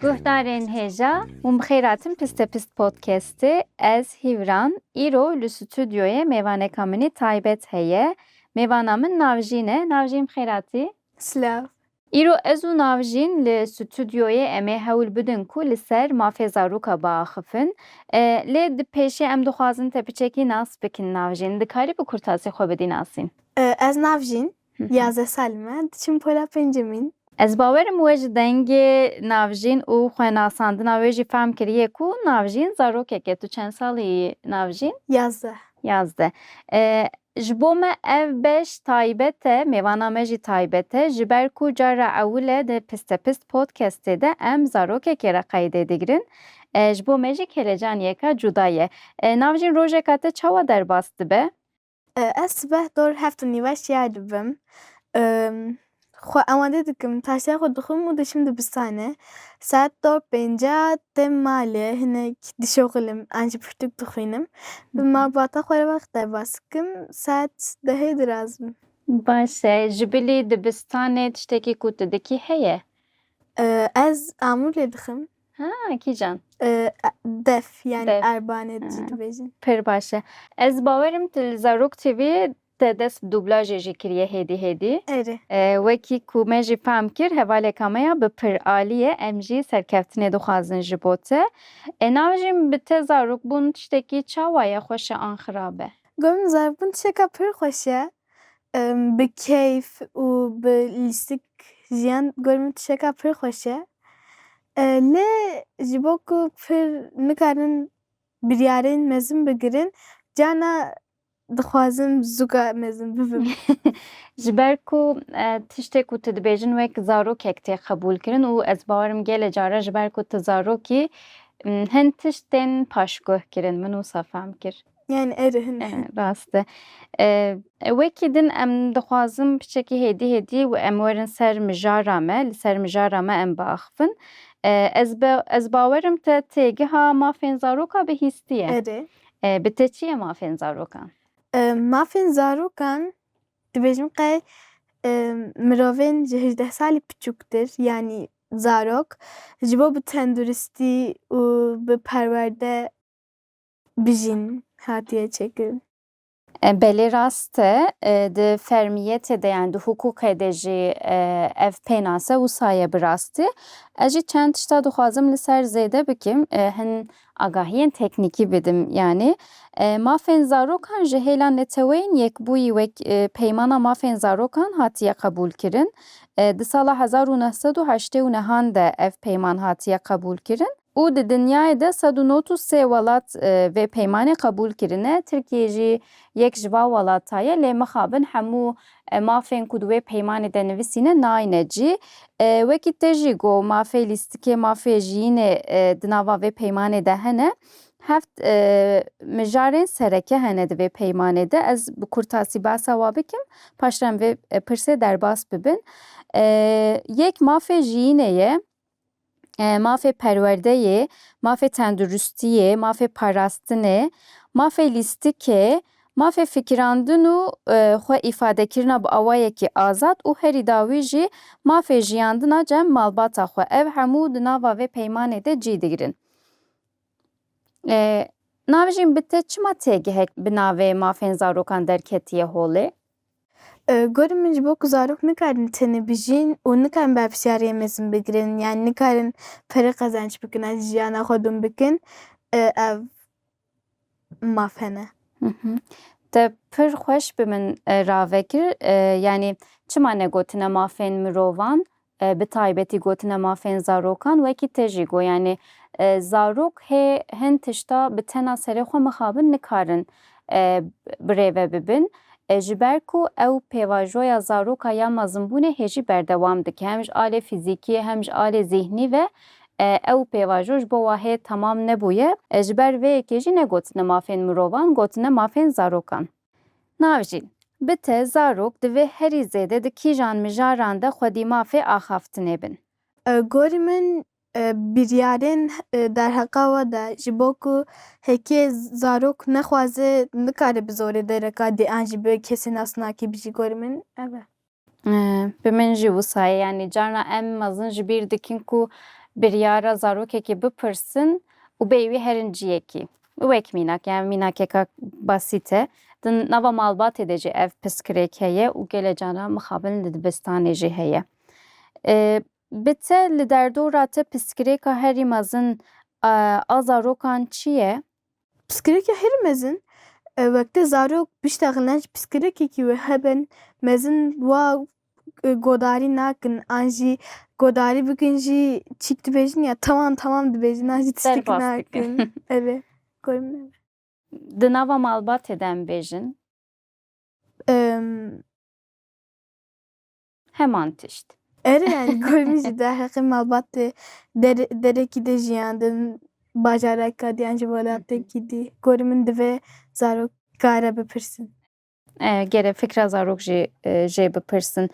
Guhdarên hêja û bi xêr hatin Piste Pist Podcastê. Ez Hîvran, îro li stûdyoyê mêvaneka min ê taybet heye. Mêvana min Navjîn e. Navjîn bi xêr hatî. Silav. Îro ez û Navjîn li stûdyoyê em ê hewl bidin ku li ser mafê zarûka biaxifin. Lê di pêşê em dixwazin te piçekî nas bikin. Navjîn, dikarî bi kurtasî xwe bidî nasîn? Ez Navjîn, yazdeh sal me, diçim pola pêncemîn. Ez bawer im we ji dengê Navjîn û xwe nasandina wê jî fehm kiriye ku Navjîn zarokek e. Tu çend salî yî Navjîn? Yazdeh. Yazdeh. Ji bo me ev beş taybet e, mêvana me jî taybet e, ji ber ku cara ewil e di Pistepist Podcastê de em zarokekê re qeydê digirin. Ji bo me jî kêlecaniyeka cuda ye. Navjîn rojeka te çawa derbas dibe? Ez sibeh dor heft û nîve şiyayê dibim. Xwe amade dikim, taşeya xwe dixwim û diçim dibistanê. Saet do pênca têm malê, hinek dişoxilim an jî pirtûk dixwînim. Bi malbata xwe re ve qutebas dikim, saet dehê diraz bim. Baş e, ji bilî dibistanê tiştekî ku tu dikî heye? Ez amûlê dixwim. Ha, kîjan? Def, yanî erbanê jî dibêjin. Pir baş e. Ez bawerim tu li Zarok TV Te dest bi dublajê jî kiriye hêdî hêdî. Erê. Wekî ku me jî fehm kir hevaleka me ya bi piralî ye, em jî serkeftinê dixwazin ji bo te. Ê navijîm bi te zarokbûn tiştekî çawa ye xweş e an xirab e? Gotin zarokbûn tişteka pir xweş e. Bi keyf û bi lîstik jiyan gorî min tişteka pir xweş e. Lê ji bo ku pir nikarin biryarên mezin bigirin, carna Dixwazim zûga mezin bibim. Ji ber ku tiştê ku tu dibêjin wek zarokek tê qebûlkirin û ez bawer im gelê caran ji ber ku tu zarok î hin tişt tên paşguhkirin. Min wisa fehm kir. Yani eri hin e. Rast e. Wekî din em dixwazim piçekî hêdî hêdî em werin ser mijara me, li ser mijara me em biaxivin. Ez ez bawer im te têgiha mafên zaroka bihîstiye. Erê. Bi te çi ye mafên zarokan? Mafên zarokan dibêjim qey mirovên ji hejdeh salî piçûktir yanî zarok ji bo bi tenduristî û bi perwerde bijîn hatiye çêkirin. Belê rast e, di fermiyetê de yani di hukûqê de jî ev pênas e, wisa ye bi rastî. Ez jî çend tişta dixwazim li ser zêde bikim, hin agahiyên teknîkî bidim yanî. Mafên zarokan ji hêla Neteweyên Yekbûyî wek Peymana Mafên Zarokan hatiye qebûlkirin. Di sala hezar û neh sed û heştê û nehan de ev peyman hatiye qebûlkirin. û di dinyayê de sed û not û sê welat vê peymanê qebûl kirine, Tirkiyê jî yek ji van welata ye, lê mixabin hemû mafên ku di wê peymanê de nivîsîne nayne cî. Wekî te jî got mafê lîstikê, mafê jiyînê di nava vê peymanê de hene. Heft mijarên sereke hene di vê peymanê de. Ez bi kurtasî behsa wan bikim, paşre em vê pirsê derbas bibin. Yek mafê jiyînê ye, mafê perwerdeyê, mafê tenduristiyê, mafê parastinê, mafê lîstikê, mafê fikirandin û xwe îfadekirina bi awayekî azad û herî dawî jî mafê jiyandina cem malbata xwe ev hemû di nava vê peymanê de cî digirin. Navijîn bi te çima têgihek bi navê mafên zarokan derketiye holê? Gorî min ji bo ku zarok nikarin tenê bijîn û nikarin berpirsiyariyên mezin bigirin yanî nikarin pere qezenç bikin ez jiyana xwe dûn bikin ev maf hene. Te pir xweş bi min ravekir yanî çima ne gotine mafên mirovan Bi taybetî gotina mafên zarokan wekî te jî got yanî zarok hê hin tişta bi tena serê xwe mixabin nikarin birêve bibin ji ber ku ew pêvajoya zaroka ya mezinbûnê hê jî berdewam dike hem ji alê fîzîkî hem ji alê zîhnî ve ew pêvajo ji bo we hê temam nebûye ji ber vê yekê jî ne gotina mafên mirovan gotina mafên zarokan Navjîn, Bi te zarok divê herî zêde di kîjan mijaran de xwedî mafê axaftinê bin? Gorî min biryarên derheqa we de ji bo ku hêkê zarok nexwaze nikare bi zorê dereka dê an jî bi kesê nasnakî bijî gorî min ev e. Bi min jî wisa ye. Yanî carna em mezin ji bîr dikin ku biryara zarokekî bipirsin û bêyî wî herin ciyekî. Wek mînak yan mînakeka basît e. Di nava malbatê de jî ev pirsgirêk heye û gelê caran mixabin li dibistanê jî heye. Bi te li derdora te pirsgirêka herî mezin a zarokan çi ye? Pirsgirêka herî mezin, wekte zarok pişta xilan ji pirsgirêkekî wê hebin mezin wa godarî nakin an jî godarî bikin jî çîk dibêjin ya tamam tamam dibêjin an jî tiştekî nakin. Erê gorî min e. Di nava malbatê de em bêjin. heman tişt. Ere yani gormî jî derheqê malbatê der derekî de jiyandin bajareka dî yan ji welatekî dî gorî min divê zarok kare bipirsin. Gere fikra zarok jî jê bipirsin.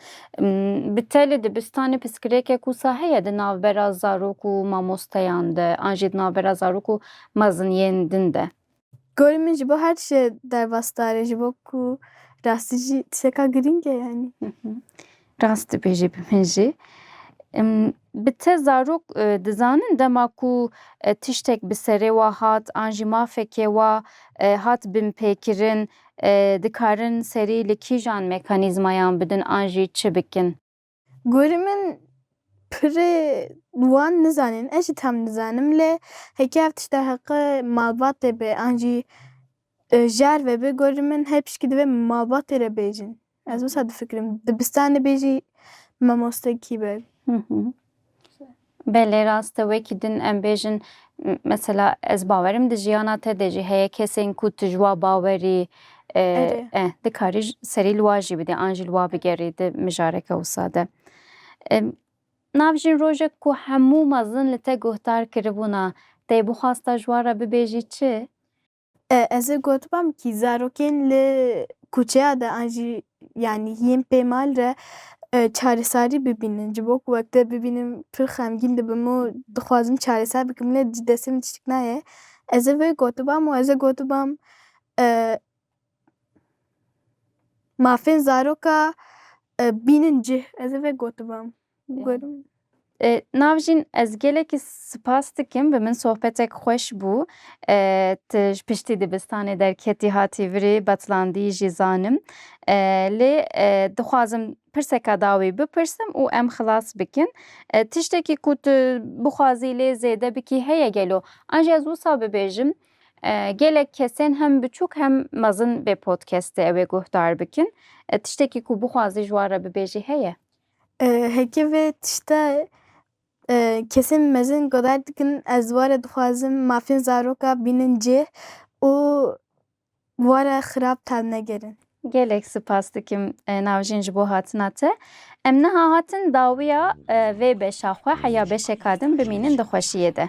Bi te li dibistanê piskirêkek wisa heye di navbera zarok û mamosteyan de an jî di navbera zarok û meziniyên din de? Gorî min ji bo her tiştê derbas dare ji bo ku rastî jî tişteka girîng e yanî. Rast dibêjî bi min jî. Bi te zarok dizanin dema ku tiştek bi serê we hat an jî mafekê we hat binpêkirin dikarin serî li kîjan mekanîzmayan bidin an jî çi bikin? Gorî min pirê wan nizanîn ez jî tam nizanim lê heke ev tişta heqê malbatê be an jî jar ve be gorî min her pişkî divê malbatê re bêjin. Ez wisa difikirim dibistanê bêjî mamostekî be. Belê rast e wekî din em bêjin mesela ez bawerim di jiyana te de jî heye kesên ku tu ji wa bawerî Erê. e dikarî serî li wa jî bidî an jî li wa bigerî di mijareke wisa de. Nav jîn rojek ku hemû mezin li te guhdar kiribûna te yê bixwasta ji wan re bibêjî çi? Ez ê gotibam kî zarokên li kuçeya de an jî yanî yên pê mal re çaresarî bibînin. Ji bo ku wek te bibînim pir xemgîn dibim û dixwazim çareser bikim lê ji destê min tiştik nayê. Ez ê vê gotibam û ez ê gotibam mafên zaroka bînin cih. Ez ê vê gotibam. Navjîn ez gelekî sipas dikim bi min sohbetek xweş bû. Tu ji piştî dibistanê derketî hatî virê betlandî jî zanim. Lê dixwazim pirseka dawî bipirsim û em xilas bikin. Tiştekî ku tu bixwazî lê zêde bikî heye gelo? An jî ez wisa bibêjim gelek kesên hem biçûk hem mezin vê podcastê ew ê guhdar bikin. Tiştekî ku bixwazî ji wan re bibêjî heye? Heke vê tişta kesên mezin guhedar dikin ez were dixwazim mafên zaroka bînin cih û were xirab tav negerin. Gelek sipas dikim Navjîn ji bo hatina te. Em niha hatin dawiya vê beşa xwe heya beşeka din bimînin di xweşiyê de.